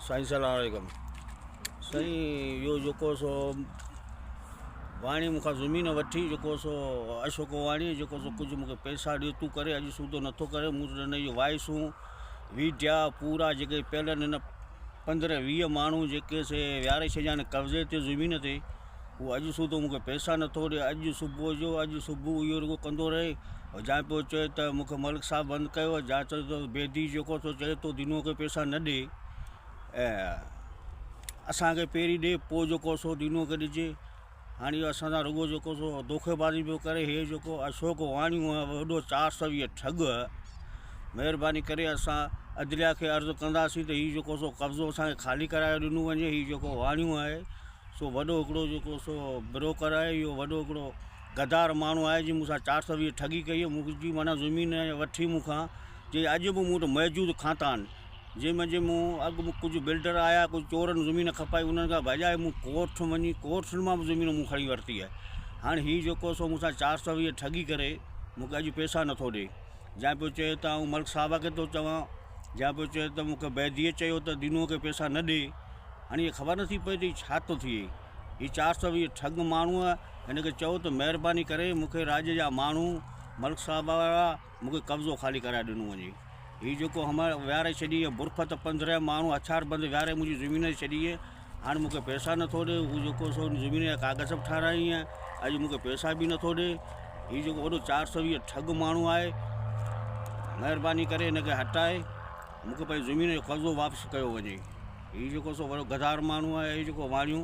سائين سلام عليڪم سائين اهو جيڪو سو واڻي مون کان زمين وٺي جيڪو سو اشوڪ واڻي جيڪو سو ڪجهه مون کي پئسا ڏي تون ڪري اڄ سوڌو نٿو ڪري مون وٽ نه اهي وائسون ويٺيا پورا جيڪي پيلن هن پندرهن ويهه ماڻهو جيڪي سي ويهاري ڇڏيا آهن قبضي تي زمين تي هو اڄ سوڌو مونکي پيسا نٿو ڏي اڄ صبح جو اڄ صبح اهو رڳو ڪندو رهي جا پيو چئي ته مونکي ملڪ صاحب بند ڪيو آهي جا چئي ته بيدي جيڪو سو چئي تو دنو کي پيسا نه ڏي اسانکي پهرين ڏي پوء جيڪو سو دنو کي ڏجي هاڻ اهو اسان سان رڳو جيڪو سو دوکي بازي پيو ڪري هي جيڪو اشوڪ واڻيون ۽ وڏو چار سو ويهه ٺڳ مهرباني ڪري اسان عدليا کي عرض ڪنداسين ته هي جيڪو سو قبضو اسانکي خالي ڪرايو ڏنو وڃي هي جيڪو واڻيون آهي سو وڏو هڪڙو جيڪو سو بروڪر آهي اهو وڏو هڪڙو غدار ماڻهو آهي جنهن مون سان چار سو ويهه ٺڳي ڪئي مون جي معنيٰ زمين وٺي مون کان جي اڄ به مون وٽ موجود کاتان جنهن منجهه مون اڳ ۾ ڪجهه بلڊر آيا ڪجهه چورن زمين کپائي انهن کان ڀڄائي مون ڪورٺ وڃي ڪورٺن مان به زمين مون کڻي ورتي آهي هاڻ هي جيڪو سو مون سان چار سو ويهه ٺڳي ڪري مون کي اڄ پيسا نٿو ڏي جنهن پيو چئي ته آئون ملڪ صاحب کي ٿو چوان جنهن پيو چئي ته مون کي بيديء چيو ته دينوء کي پيسا نه ڏي هاڻي هي خبر نٿي پئي ته ڇا ٿو ٿئي هي چار سو ويهه ٺڳ ماڻهوء هن کي چئو ته مهرباني ڪري مون کي راڄ جا ماڻهو ملڪ صاحب وارا مون کي قبضو خالي ڪرائي ڏنو وڃي. هي جيڪو همهڻ ويهاري ڇڏي هي برفت پنڌريان ماڻهو هٿيار بند ويهاري منهنجي زمين تي ڇڏي هي هاڻ مون کي پئسا نه ٿو ڏي هو جيڪو سو ان زمين جا ڪاغذ به ٺارايائين هي اڄ مون کي پئسا به نه ٿو ڏي هي جيڪو وڏو چار سو ويهه ٺڳ ماڻهو آهي مهرباني ڪري هن کي هٽائي مون کي پنهنجي زمين جو قبضو واپس ڪيو وڃي هي جيڪو سو وڏو غدار ماڻهو آهي هي جيڪو واڻيون